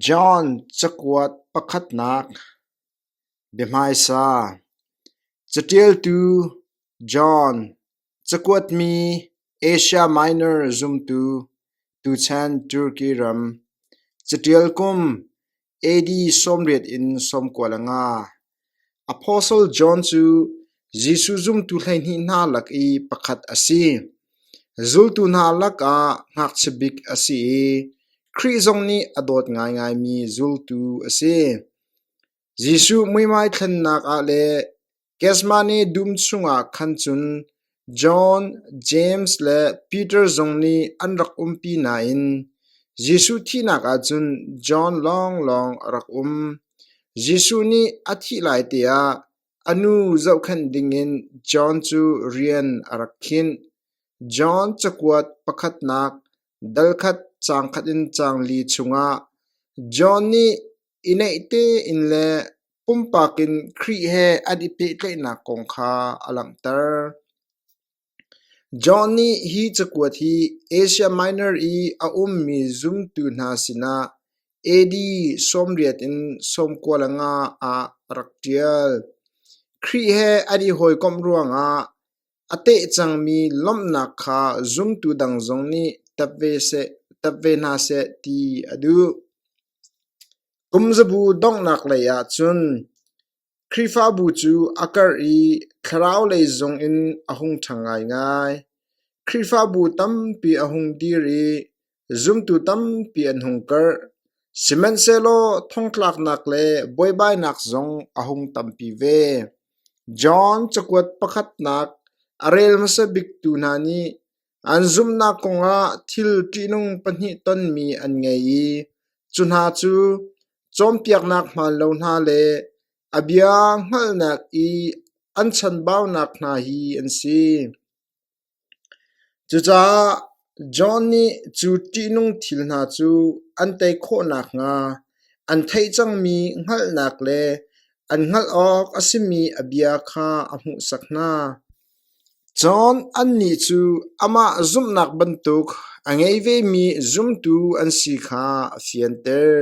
John cakuat pakhatnak biahmaisa Caṭialtu John Cakuatmi Asia Minor zumtu tuchan Turkey ram caṭial kum AD sawmriat in sawmkua le nga. Apostle John cu Jesuh zumtu hleihnih hna lak i pakhat a si. Zultu hna lakah ngakchia bik a si i Khrih zong nih a dawt ngaingaimi zultu a si. Jesuh muihmai thlennak ah le Gethsemane dum chungah khan cun John, James le Peter zong nih an rak umpi nain Jesuh thihnak ah cun John lawnglawng a rak um. Jesuh nih a thih lai teah a nu zohkhenh dingin John cu rian a rak khinh. John cakuat pakhatnak dalkhat caangkhat in caang li chungah John nih i neih tein le Pumpak in Khrih he an i pehtlaihnak kong kha a langhter. John nih hi cakuat hi Asia Minor i a ummi zumtu hna sinah AD sawmriat in sawmkua le nga ah a rak ṭial. Khrih he an i hawikomh ruangah A teh cangmi lawmhnak kha zumtu dang zong nih tap ve hna seh ti a duh. Kumzabu donghnak lei ahcun Khrihfabu cu a karh i thlaraulei zong in a hung ṭha ngaingai. Khrihfabu tampi a hung dir i Zumtu tampi an hung karh, sihmanhsehlaw thongtlaknak le buaibainak zong a hung tampi ve. John cakuat pakhatnak a rel hmasa biktu hna nih an zumhnak kongah thil ṭihnung pahnih tonmi an ngei i cu hna cu cawnpiaknak hmaanlo hna le a bia hngalhnak i an chanbaunak hna hi an si. Cucaah John nih cu ṭihnung thil hna cu an tei khawh nakhnga an theih cangmi hngalhnak le an hngalh awk a simi a bia kha a hmuhsak hna. John annih cu amah zumhnak bantuk a ngei vemi zumtu an si kha a fianter.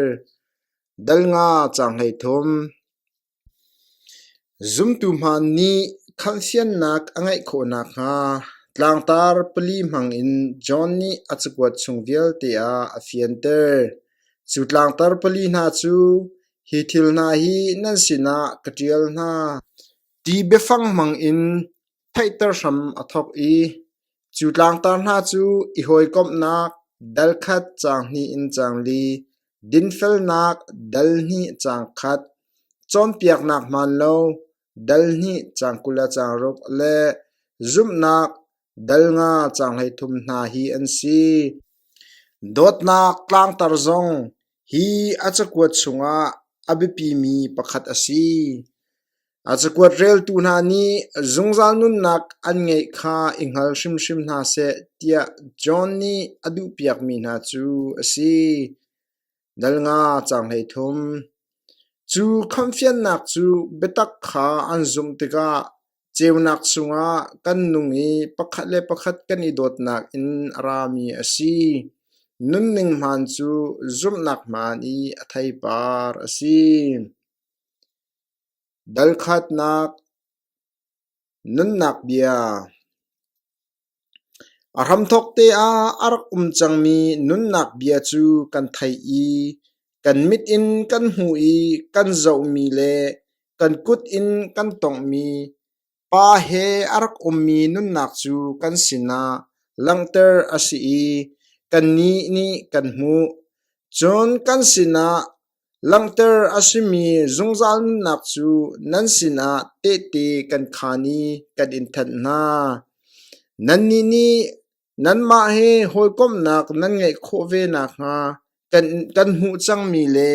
Dal nga caang hleithum. Zumtu hmanh nih khangsiannak a ngeih khawh nakhnga tlangtar pali hmangin John nih a cakuat chung vialte ah a fianter. Cu tlangtar pali hna cu hi thil hna hi nan sinah ka ṭial hna, ti biafang hmangin theihter hram a thawk i cu tlangtar hna cu i hawikomhnak dal khat caang hnih in caang li, dinfelnak dal hnih caang khat, cawnpiaknak hmaan lo dal hnih caang kul le caang ruk le zumhnak dal nga caang hleithum hna hi an si. Dawtnak tlangtar zong Hi a cakuat chungah a biapimi pakhat a si. A cakuat reltu hna nih zungzal nunnak an ngeih kha i hngal hrimhrim hna seh tiah John nih a duhpiakmi hna cu a si. Dal nga caang hleithum. Cu khamhfiannak cu biatak kha an zumh tikah Ceunak chungah kan nung i pakhat le pakhat kan i dawtnak in a rami a si. Nunning hmaan cu zumhnak hmaan i a theipar a si. Dalkhatnak nunnak bia. A hramthawk te ah a rak um cangmi nunnak bia cu kan theih i kan mit in kan hmuh i kan zohmi le kan kut in kan tonghmi Pa he a rak ummi nunnak cu kan sinah langhter a si i kannih nih kan hmuh. Cun kan sinah, Langhter a simi zungzal nunnak cu nan sinah tehte kan khaan i kan in thanh hna. Nannih nih nanmah he hawikomhnak nan ngeih khawh ve nakhnga kan hmuh cangmi le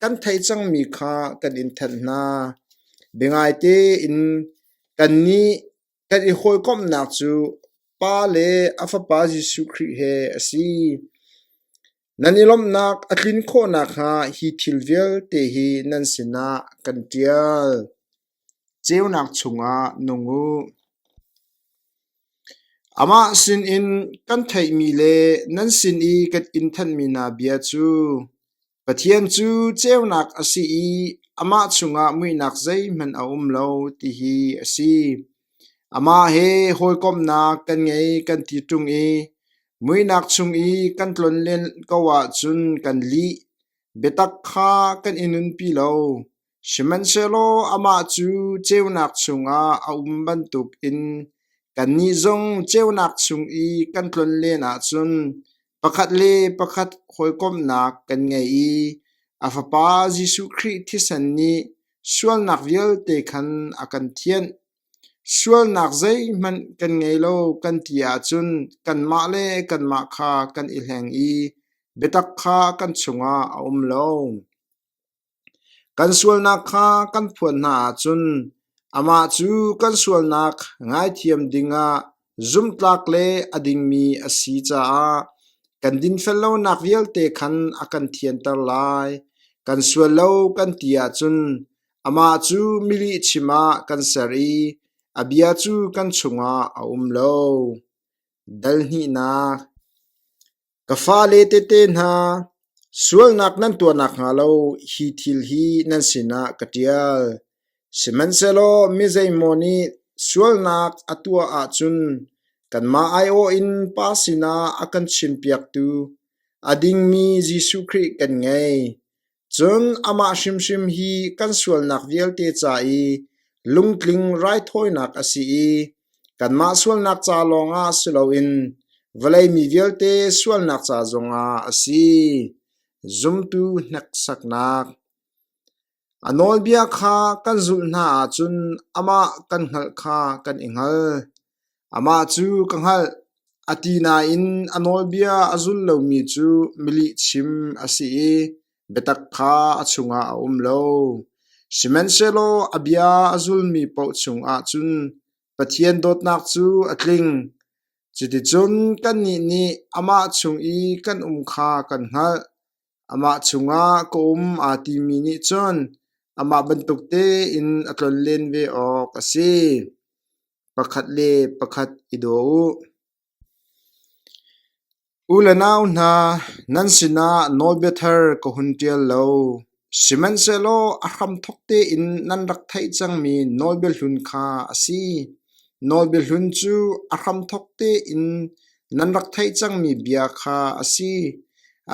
kan theih cangmi kha kan in thanh hna. Biangaite in kannih kan i hawikomhnak cu Pa le a Fapa Jesuh Khrih he a si. Nan i lawmhnak a tlin khawh nakhnga hi thil vialte hi nan sinah kan ṭial. Ceunak chungah nung u. Amah sinin kan theihmi le nan sin i kan in thanmi hna bia cu Pathian cu ceunak a si i amah chungah muihnak zeihmanh a um lo, ti hi a si. Amah he hawikomhnak kan ngei kan ti ṭung i muihnak chung i kan tlon len ko ahcun kan lih. Biatak kha kan i nunpi lo, sihmanhsehlaw amah cu ceunak chungah a um bantukin kannih zong ceunak chung i kan tlon len ahcun pakhat le pakhat hawikomhnak kan ngei i a Fapa Jesuh Khrih thisen nih Sualnak vialte khan a kan thianh. Sualnak zeihmanh kan ngei lo kan ti ahcun kanmah le kanmah kha kan i hleng i biatak kha kan chungah a um lo. Kan sualnak kha kan phuan hna ahcun amah cu kan sualnak ngaithiam dingah Zumhtlak le a dingmi a si caah kan dinfel lonak vialte khan a kan thianter lai. Kan sual lo kan ti ahcun amah cu milihchim ah kan ser i a bia cu kan chungah a um lo. Dal hnihnak Ka fale tehte hna, sualnak nan tuah nakhnga lo hi thil hi nan sinah ka ṭial. Sihmanhsehlaw mi zeimaw nih sualnak a tuah ahcun kanmah aiawh in Pa sinah a kan chimpiaktu, a dingmi Jesuh Khrih kan ngei. Cun amah hrimhrim hi kan sualnak vialte ca i lungtling raithawinak a si i kanmah sualnak ca lawngah si loin vawlei mi vialte sualnak ca zongah a si. Zumtu hneksaknak A nawlbia kha kan zulh hna ahcun amah kan hngalh kha kan i hngal. Amah cu ka hngalh, a ti nain a nawlbia a zul lomi cu milihchim a si i biatak kha a chungah a um lo. Sihmanhsehlaw a bia a zulmi paoh chungah cun Pathian dawtnak cu a tling. Cuticun kannih nih amah chung i kan um kha kan hngalh. Amah chungah ka um aa timi nih cun amah bantuk tein a tlonlen ve awk a si. Pakhat le pakhat i daw u. U le nau hna, nan sinah nawlbia thar ka hun ṭial lo. Sihmanhsehlaw a hramthawk tein nan rak theih cangmi nawlbia hlun kha a si. Nawlbia hlun cu a hramthawk tein nan rak theih cangmi bia kha a si.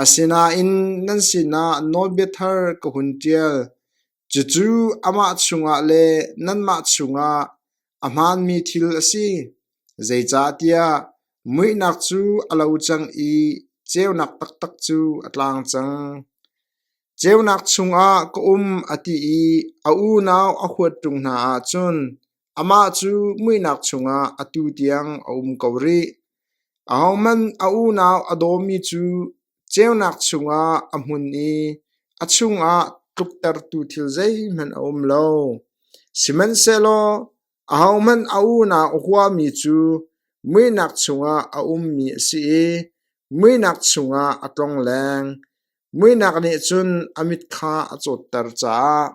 Asinain nan sinah nawlbia thar ka hun ṭial. Cucu amah chungah le nanmah chungah a hmaanmi thil a si, zeicahtiah muihnak cu a lo cang i ceunak taktak cu a tlang cang. Ceunak chungah ka um a ti i a unau a huat ṭung hna ahcun amah cu muihnak chungah atu tiang a um ko rih. Ahohmanh a unau a dawmi cu ceunak chungah a hmun i a chungah tluktertu thil zeihmanh a um lo. Sihmanhsehlaw ahohmanh a unau a huami cu muihnak chungah a ummi a si i muihnak chungah a tlongleng. Muihnak nih cun a mit kha a cawtter caah.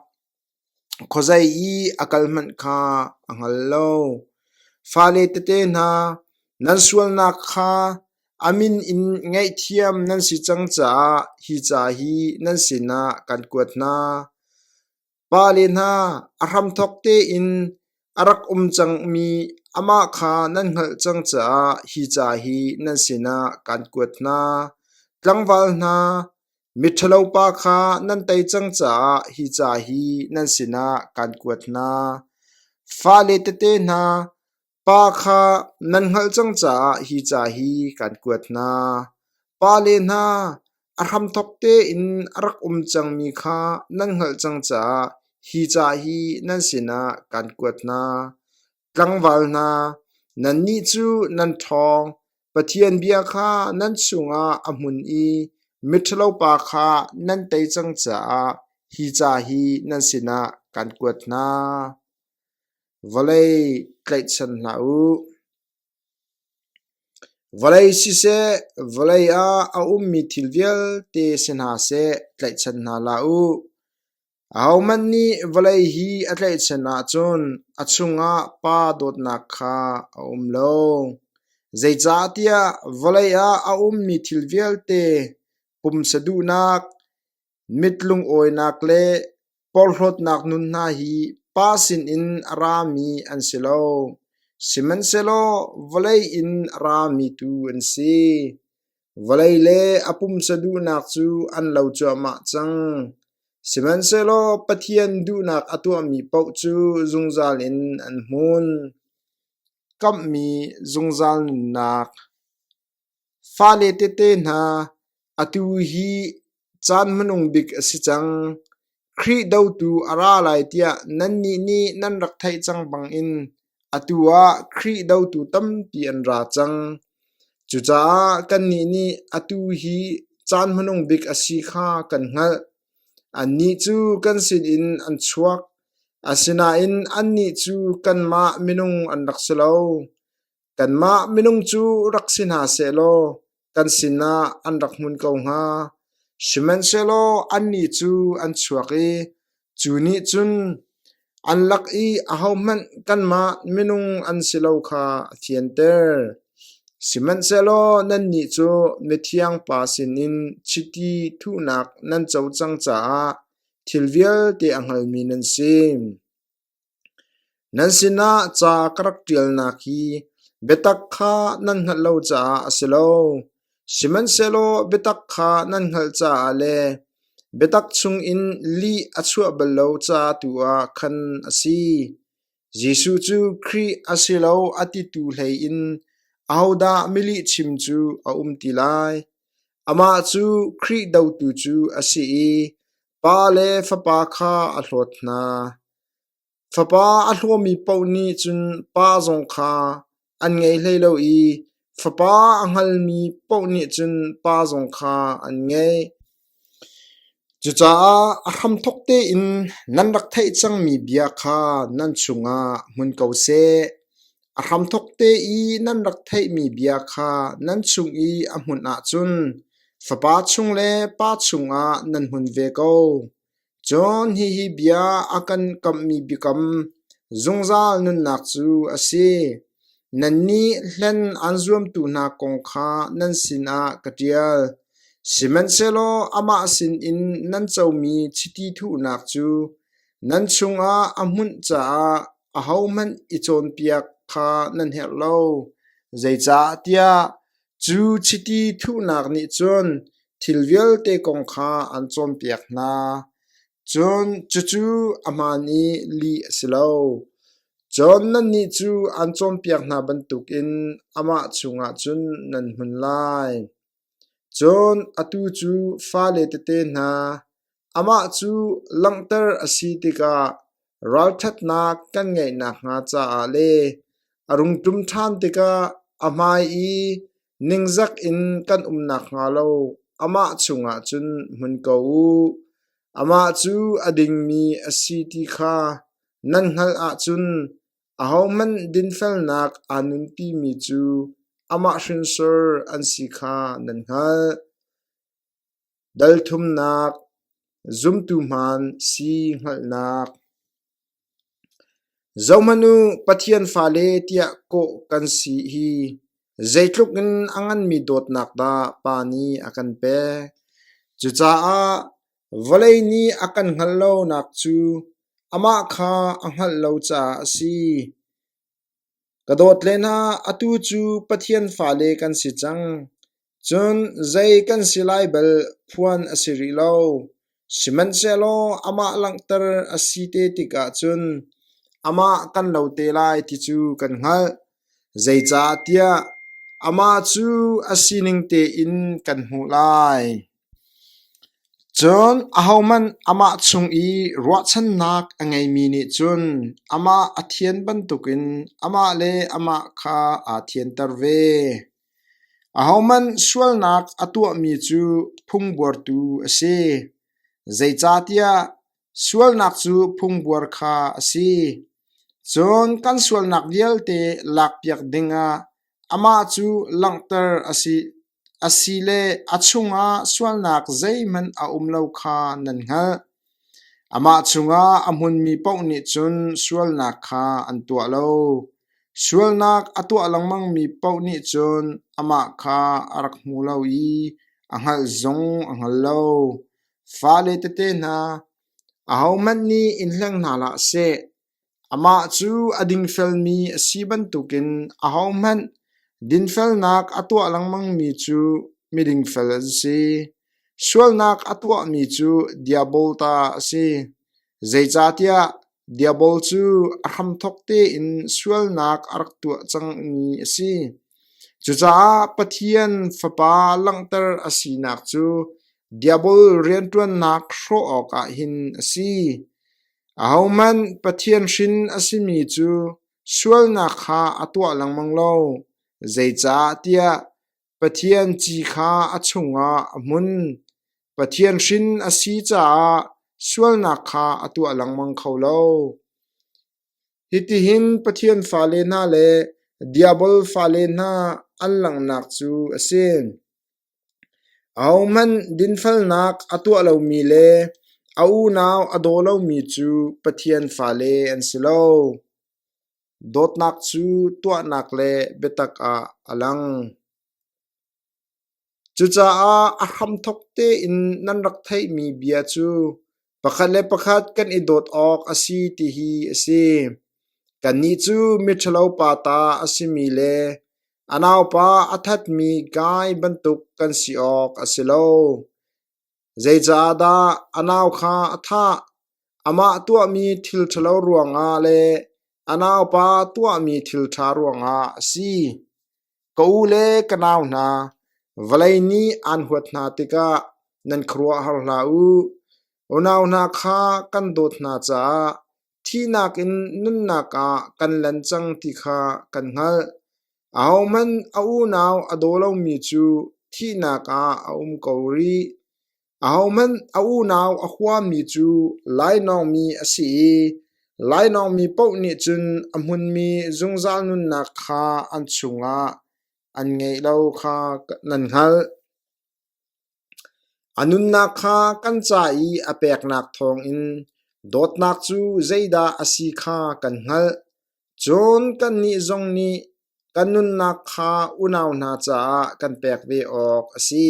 Khuazei i a kal hmanh kha a hngal lo. Fale tete hna, nan sualnak kha a min in ngaihthiam nan si cang caah hi ca hi nan sinah kan kuat hna. Pale hna, a hramthawk tein A rak um cangmi amah kha nan hngalh cang caah hi ca hi nan sinah kaan kuat hna. Tlangval hna, miṭhalo pa kha nan tei cang caah hi ca hi nan sinah kaan kuat hna. Fale tete hna, pa kha nan hngalh cang caah hi ca hi kaan kuat hna. Pale hna, A hramthawk tein a rak um cangmi kha nan hngalh cang caah hi ca hi nan sinah kan kuat hna. Tlangval hna, nannih cu nan ṭhawng, Pathian bia kha nan chungah a hmun i miṭhalopa kha nan tei cang caah hi ca hi nan sinah kan kuat hna. Vawlei tlaihchan hlah u. Vawlei siseh, vawlei ah a ummi thil vialte si hna seh tlaihchan hna hlah u. Ahohmanh nih vawlei hi a tlaihchan ahcun a chungah Pa dawtnak kha a um lo. Zeicahtiah vawlei ah a ummi thil vialte pumsa duhnak, Mit lungawinak le porhlawtnak nun hna hi pa sinin a rami an si lo, sihmanhsehlaw vawlei in a rami tu an si. Vawlei le a pumsa duhnak cu an lo cuahmah cang, sihmanhsehlaw Pathian duhnak a tuahmi paoh cu zungzal in an hmun. Kamhmi zungzal nunnak Fale tete hna, atu hi caan hmanung bik a si cang. Khrih dotu a ra lai tiah nannih nih nan rak theih cang bangin atu ah Khrih dotu tampi an ra cang. Cucaah kannih nih atu hi caan hmanung bik a si kha kan hngalh. Annih cu kan sinin an chuak, asinain annih cu kanmah minung an rak si lo. Kanmah minung cu rak si hna sehlaw kan sinah an rak hmun ko hnga. Sihmanhsehlaw annih cu an chuak i cu nih cun an lak i ahohmanh kanmah minung an si lo kha a fianter. Sihmanhsehlaw nannih cu mithiang Pa sinin chiti thuhnak nan co cang caah thil vialte a hngalmi nan si. Nan sinah ca ka rak ṭialnak hi biatak kha nan hngalh lo caah a si lo; sihmanhsehlaw biatak kha nan hngalh caah le biatak chungin lih a chuah bal lo ca tu ah khan a si. Jesuh cu Khrih a si lo a titu hleiin ahodah milihchim cu a um ti lai? Amah cu Khrih dotu cu a si i Pa le fapa kha a hlawt hna. Fapa a hlawmi paoh nih cun pa zong kha an ngei hlei lo i fapa a hngalmi paoh nih cun pa zong kha an ngei. Cucaah a hramthawk tein nan rak theih cangmi bia kha nan chungah hmun ko seh. A hramthawk te i nan rak theihmi bia kha nan chung i a hmunh ahcun fapa chung le pa chungah nan hmun ve ko. John hihi bia a kan kamhmi biakam zungzal nunnak cu a si. Nannih hlen an zuamtu hna kong kha nan sinah ka ṭial. Sihmanhsehlaw amah sinin nan comi chiti thuhnak cu nan chungah a hmunh caah ahohmanh i cawnpiak kha nan herh lo, zeicahtiah cu chiti thuhnak nih cun thil vialte kong kha an cawnpiak hna. Cun cucu ahmaan i lih a si lo. Cun nannih cu an cawnpiak hna bantukin amah chungah cun nan hmun lai. Cun atu cu fale tete hna, amah cu langhter a si tikah ralṭhatnak kan ngeih nakhnga caah le a rung ṭum ṭhan tikah a hmai i ningzak in kan um nakhnga lo amah chungah cun hmun ko u. Amah cu a dingmi a si ti kha nan hngalh ahcun Ahohmanh dinfelnak aa nunpimi cu amah hrinsor an si kha nan hngalh. Dalthumnak, zumtu hmaan si hngalhnak. Zohhmanh u, Pathian fale tiah kawh kan si hi zeitluk in a nganmi dawtnak dah Pa nih a kan pek! Cucaah Vawlei nih a kan hngal lonak cu amah kha a hngalh lo caah a si. Ka dawt le hna, atu cu Pathian fale kan si cang. Cun zei kan si lai bal phuan a si rih lo. Sihmanhsehlaw amah langhter a si te tikah cun amah kan lo te lai ti cu kan hngalh. Zeicahtiah amah cu a sining tein kan hmuh lai. Cun ahohmanh amah chung i ruahchannak a ngeimi nih cun amah a thian bantukin amah le amah kha aa thianter ve. Ahohmanh sualnak a tuahmi cu phungbuartu a si, zeicahtiah sualnak cu phungbuar kha a si. Cun kan sualnak vialte lakpiak dingah amah cu langhter a si. Asile a chungah sualnak zeihmanh a um lo kha nan hngalh. Amah cungah a hmunmi paoh nih cun sualnak kha an tuah lo. Sualnak a tuah lengmangmi paoh nih cun amah kha a rak hmu lo i a hngalh zong a hngal lo. Fale tete hna, ahohmanh nih in hleng hna hlah seh. Amah cu a dingfelmi a si bantukin ahohmanh dinfelnak a tuah lengmangmi cu miding fel an si. Sualnak a tuahmi cu diabol ta a si, zeicahtiah diabol cu a hramthawk tein sualnak a rak tuah cangmi a si. Cucaah Pathian Fapa langhter a sinak cu diabol rianṭuannak hrawh awkah hin a si. Ahohmanh Pathian hrin a simi cu sualnak kha a tuah lengmang lo, zeicahtiah Pathian ci kha a chungah a hmun; Pathian hrin a si caah sualnak kha a tuah lengmang kho lo. Hitihin Pathian fale hna le Diabol fale hna an langhnak cu a si. Ahohmanh dinfelnak a tuah lomi le a unau a daw lomi cu Pathian fale an si lo. Dawtnak cu tuahnak le biatak ah a lang. Cucaah a hramthawk tein nan rak theihmi bia cu Pakhat le pakhat kan i dawt awk a si ti hi a si. Kannih cu miṭhalopa ta a simi le a naupa a thatmi Gai bantuk kan si awk a si lo. Zeicahdah a nau kha a thah? Amah tuahmi thil ṭhalo ruangah le a naupa tuahmi thil ṭha ruangah a si. Ka u le ka nau hna, vawlei nih aan huat hna tikah nan khuaruahhar hlah u. Unau hna kha kan dawt hna caah thihnak in nunnak ah kan lan cang ti kha kan hngalh. Ahohmanh a unau a daw lomi cu thihnak ah a um ko rih. Ahohmanh a unau a huami cu lainawngmi a si i lainawngmi paoh nih cun a hmunmi zungzal nunnak kha an chungah an ngeih lo kha nan hngalh. A nunnak kha kan ca i a peknak thawngin dawtnak cu zeidah a si kha kan hngalh. Cun kannih zong nih kan nunnak kha unau hna caah kan pek ve awk a si.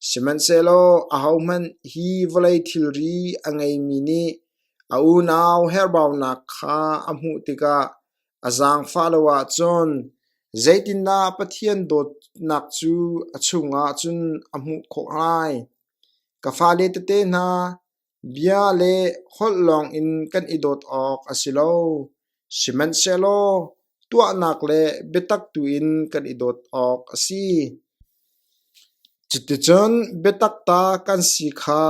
Sihmanhsehlaw ahohmanh hi vawlei thilri a ngeimi nih a unau herhbaunak kha a hmuh tikah a zaangfah lo ahcun zeitindah Pathian dawtnak cu a chungah cun a hmuh khawh lai? Ka fale tete hna, Bia le holh lawngin kan i dawt awk a si lo, sihmanhsehlaw tuahnak le biatak tuin kan i dawt awk a si. Cuticun biatak ta kan si kha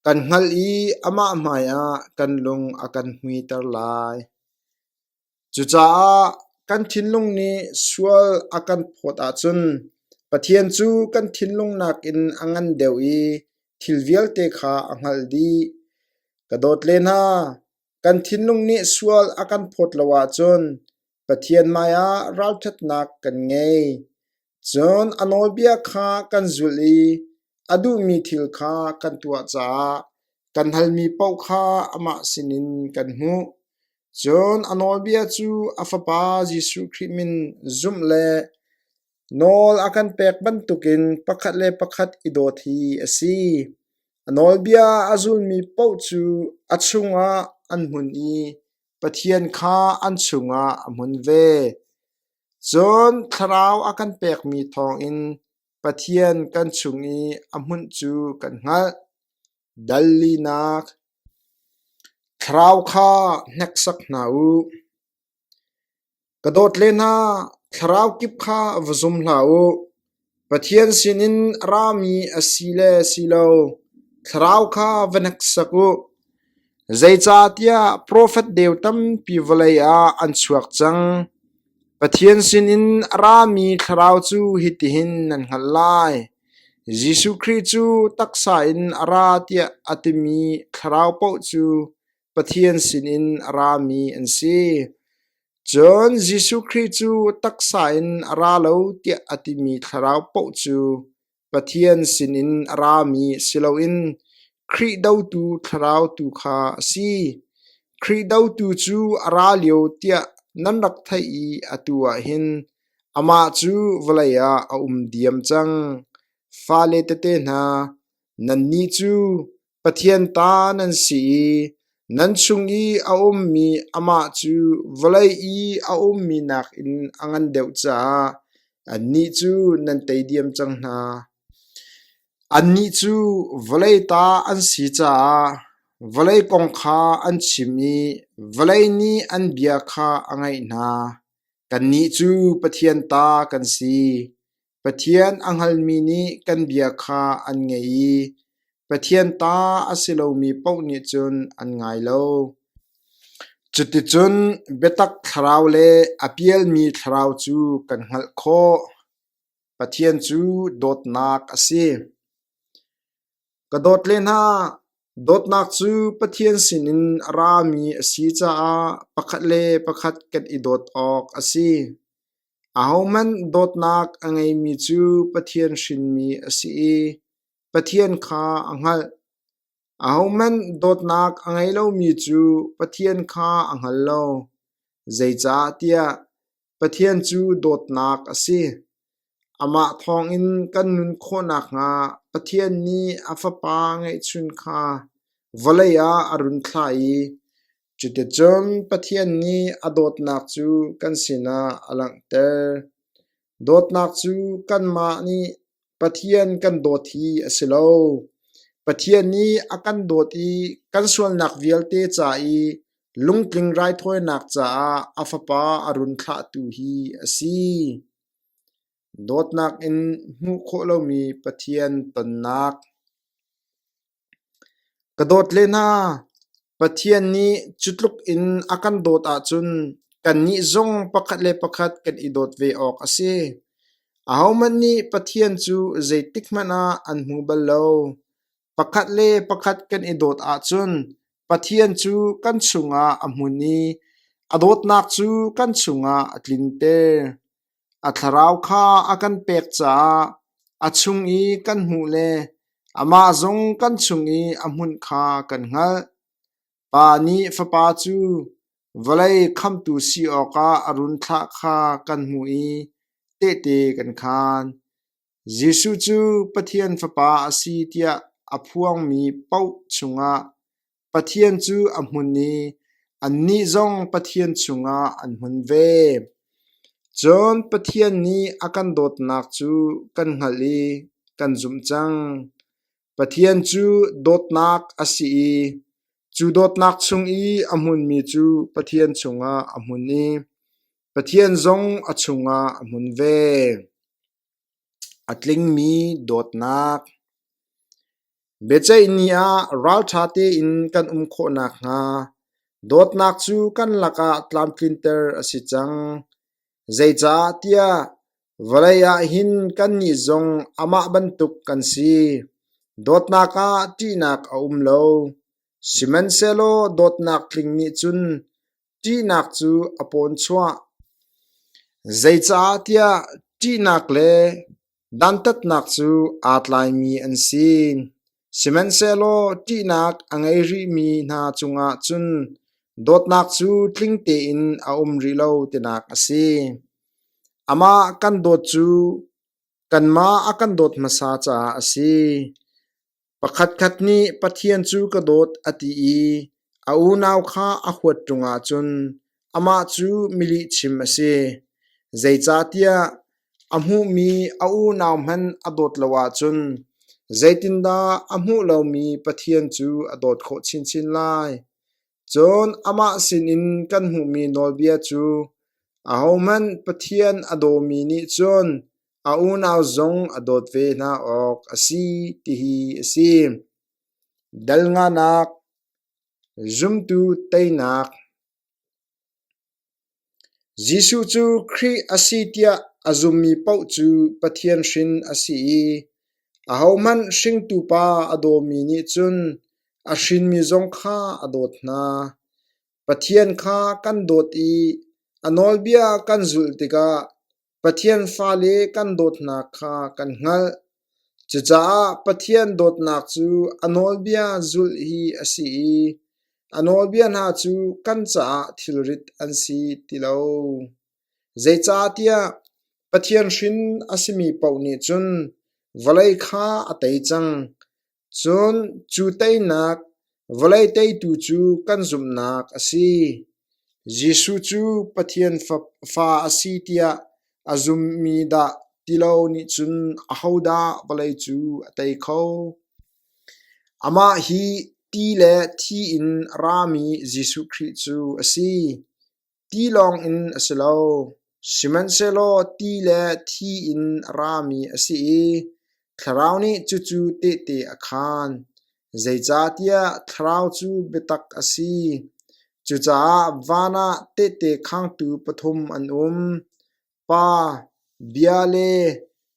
kan hngalh i amah hmaiah kan lung a kan hmuiter lai. Cucaah kan thinlung nih sual a kan phawt ahcun Pathian cu kan thinlung nakin a ngan deuh i thil vialte kha a hngalh dih. Ka dawt le hna, kan thinlung nih sual a kan phawt lo ahcun Pathian hmaiah ralṭhatnak kan ngei. Cun a nawlbia kha kan zulh i a duhmi thil kha kan tuah caah kan halmi paoh kha amah sinin kan hmuh. Cun a nawlbia cu a Fapa Jesuh Khrih min zumh le nawl a kan pek bantukin pakhat le pakhat i dawt hi a si. A nawlbia a zulmi paoh cu a chungah an hmun i Pathian kha an chungah a hmun ve. Cun Thlarau a kan pekmi thawngin Pathian kan chung i a hmunh cu kan hngalh. Dallinak Thlarau kha hneksak hna u. Ka dawt le hna, thlarau kip kha va zum hlah u. Pathian sinin a rami a si le si lo thlarau kha va hneksak u. Zeicahtiah profet deu tampi vawlei ah an chuak cang. Pathian sinin a rami thlarau cu hitihin nan hngalh lai: Jesuh Khrih cu taksa in a ra tiah a timi thlarau paoh cu Pathian sinin a rami an si. Cun Jesuh Khrih cu taksa in a ra lo tiah a timi thlarau paoh cu Pathian sinin a rami si loin Khrih dotu thlarau tu kha a si. Khrih dotu cu a ra lio tiah nan rak theih i atu ah hin amah cu vawlei ah a um diam cang. Fale tete hna, nannih cu Pathian ta nan si i nan chung i a ummi amah cu vawlei i a ummi nakin a ngan deuh caah annih cu nan tei diam cang hna. Annih cu vawlei ta an si caah vawlei kong kha an chim i vawlei nih an bia kha a ngaih hna. Kannih cu Pathian ta kan si. Pathian a hngalmi nih kan bia kha an ngei i Pathian ta a si lomi paoh nih cun an ngai lo. Cuticun biatak thlarau le a pialmi thlarau cu kan hngalh khawh. Pathian cu dawtnak a si. Ka dawt le hna, dawtnak cu Pathian sinin a rami a si caah pakhat le pakhat kan i dawt awk a si. Ahohmanh dawtnak a ngeimi cu Pathian hrinmi a si i Pathian kha a hngalh. Ahohmanh dawtnak a ngei lomi cu Pathian kha a hngal lo, zeicahtiah Pathian cu dawtnak a si. Amah thawngin kan nun khawh nakhnga Pathian nih a Fapa ngeihchun kha vawlei ah a run thlah i Cuticun Pathian nih a dawtnak cu kan sinah a langhter. Dawtnak cu kanmah nih Pathian kan dawt hi a si lo. Pathian nih a kan dawt i kan sualnak vialte ca i lungtling raithawinak caah a Fapa a run thlahtu hi a si. Dawtnak in hmuh khawh lomi Pathian tonnak. Ka dawt le hna, Pathian nih cutluk in a kan dawt ahcun kannih zong pakhat le pakhat kan i dawt ve awk a si. Ahohmanh nih Pathian cu zeitikhmanh ah an hmu bal lo. Pakhat le pakhat kan i dawt ahcun Pathian cu kan chungah a hmun i a dawtnak cu kan chungah a tlin ter. A thlarau kha a kan pek caah a chung i kan hmuh le amah zong kan chung i a hmunh kha kan hngalh. Pa nih Fapa cu vawlei khamtu si awkah a run thlah kha kan hmuh i tehte kan khaan. Jesuh cu Pathian Fapa a si tiah a phuangmi paoh chungah Pathian cu a hmun i annih zong Pathian chungah an hmun ve. Cun Pathian nih a kan dawtnak cu kan hngalh i kan zumh cang. Pathian cu dawtnak a si i cu dawtnak chung i a hmunmi cu Pathian chungah a hmun i Pathian zong a chungah a hmun ve. A tlingmi dawtnak. Biaceih ni ah ralṭha tein kan um khawh nakhnga dawtnak cu kan lakah tlamtlinter a si cang. Zeicah tiah vawlei ah hin kannih zong amah bantuk kan si. Dawtnak ah ṭihnak a um lo. Sihmanhsehlaw dawtnak tling nih cun ṭihnak cu a pawn chuah. Zeicah tiah ṭihnak le dantatnak cu aa tlaimi an si. Sihmanhsehlaw ṭihnak a ngei rihmi hna cungah cun dawtnak cu tling tein a um rih lo tinak a si. Amah kan dawt cu kanmah a kan dawt hmasa caah a si. Pakhatkhat nih Pathian cu ka dawt a ti i a unau kha a huat ṭungah cun amah cu milihchim a si. Zeicahtiah a hmuhmi a unau hmanh a dawt lo ahcun zeitindah a hmuh lomi Pathian cu a dawt khawh chinchin lai? Cun amah sinin kan hmuhmi nawlbia cu ahohmanh Pathian a dawmi nih cun a unau zong a dawt ve hna awk a si tihi a si. Dal nganak, zumtu teinak, Jesuh cu Khrih a si tiah a zummi paoh cu Pathian hrin a si i ahohmanh hringtu Pa a dawmi nih cun a hrinmi zong kha a dawt hna. Pathian kha kan dawt i a nawlbia kan zulh tikah Pathian fale kan dawtnak kha kan hngalh. Cucaah Pathian dawtnak cu a nawlbia zulh hi a si i a nawlbia hna cu kan caah thilrit an si ti lo. Zeicahtiah Pathian hrin a simi paoh nih cun vawlei kha a tei cang. Cun cu teinak vawlei teitu cu kan zumhnak a si. Jesuh cu Pathian Fa a si tiah a zummi dah ti lo nih cun ahodah vawlei cu a tei kho? Amah hi ti le thi in rami Jesuh Khrih cu a si. Ti lawngin a si lo, sihmanhsehlaw ti le thi in a rami a si i thlarau nih cucu tehte a khaan, zeicahtiah thlarau cu biatak a si. Cucaah van ah tehte khangtu pathum an um. Pa, bia le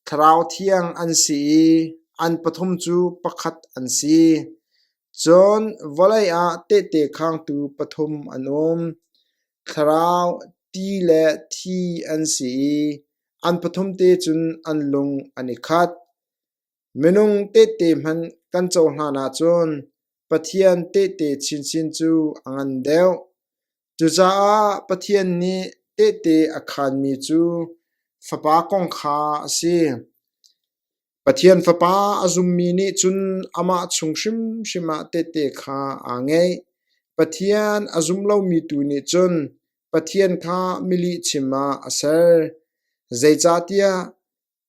thlarau thiang an si i an pathum cu pakhat an si. Cun vawlei ah tehte khangtu pathum an um. Thlarau, ti le thi an si i an pathum te cun an lung an i khat. Minung tehte hmanh kan cohlan ahcun Pathian tehte chinchin cu a ngan deuh. Cucaah Pathian nih tehte a khanmi cu Fapa kong kha a si. Pathian Fapa a zummi nih cun amah chung hrimhrim ah tehte kha aa ngeih. Pathian a zum lomi tu nih cun Pathian kha milihchim ah a ser. Zeicahtiah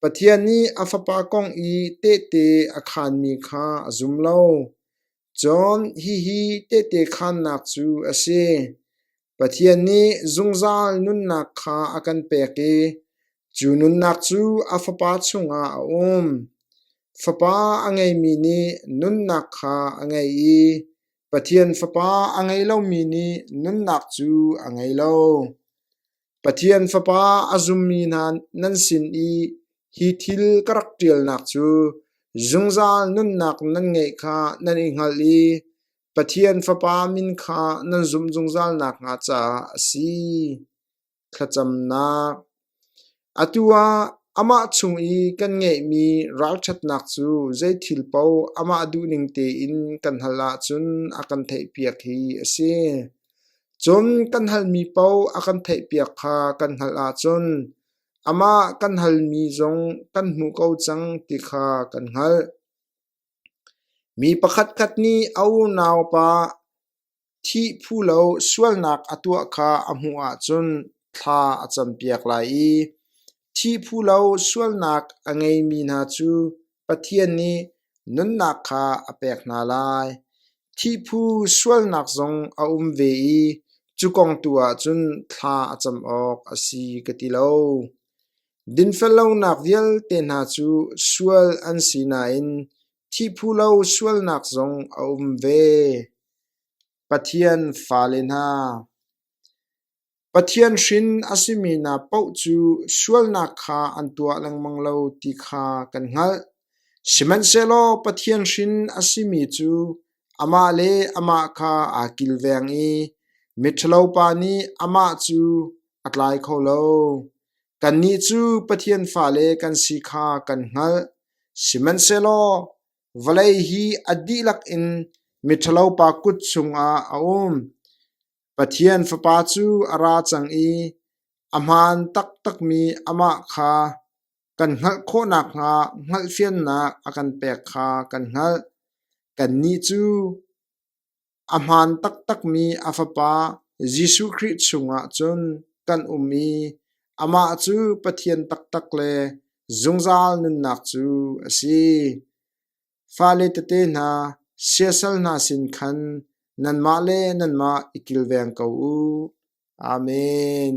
Pathian nih a Fapa kong i tehte a khaanmi kha a zum lo. Cun hihi tehte khaannak cu a si: Pathian nih zungzal nunnak kha a kan pek i cu nunnak cu a Fapa chungah a um. Fapa a ngeimi nih nunnak kha a ngei i Pathian Fapa a ngei lomi nih nunnak cu a ngei lo. Pathian Fapa a zummi hna nan sin i hi thil ka rak ṭialnak cu zungzal nunnak nan ngeih kha nan i hngalh i Pathian Fapa min kha nan zumh zungzal nakhnga caah a si. Thlacamnak Atu ah amah chung i kan ngeihmi ralṭhatnak cu zeithil paoh amah duh ning tein kan hal ahcun a kan theihpiak hi a si. Cun kan halmi paoh a kan theihpiak kha kan hngalh ahcun amah kan halmi zong kan hmu ko cang ti kha kan hngalh. Mi pakhatkhat nih a unaupa thih phu lo sualnak a tuah kha a hmuh ahcun thla a campiak lai i thih phu lo sualnak a ngeimi hna cu Pathian nih nunnak kha a pek hna lai. Thihphu sualnak zong a um ve i cu kong tu ahcun thla a cam awk a si ka ti lo. Dinfellonak vialte hna cu sual an si nain thihphu lo sualnak zong a um ve. Pathian fale hna, Pathian hrin a simi hna paoh cu sualnak kha an tuah lengmang lo ti kha kan hngalh. Sihmanhsehlaw Pathian hrin a simi cu amah le amah kha aa kilveng i miṭhalopa nih amah cu a tlai kho lo. Kannih cu Pathian fale kan si kha kan hngalh, sihmanhsehlaw vawlei hi a dihlak in miṭhalopa kut chungah a um. Pathian Fapa cu a ra cang i a hmaan taktakmi amah kha kan hngalh khawh nakhnga hngalhfiannak a kan pek kha kan hngalh. Kannih cu a hmaan taktakmi a Fapa Jesuh Khrih chungah cun kan um i amah cu Pathian taktak le zungzal nunnak cu a si. Fale tete hna, siasal hna sin khan nanmah le nanmah i kilveng ko u. Amen.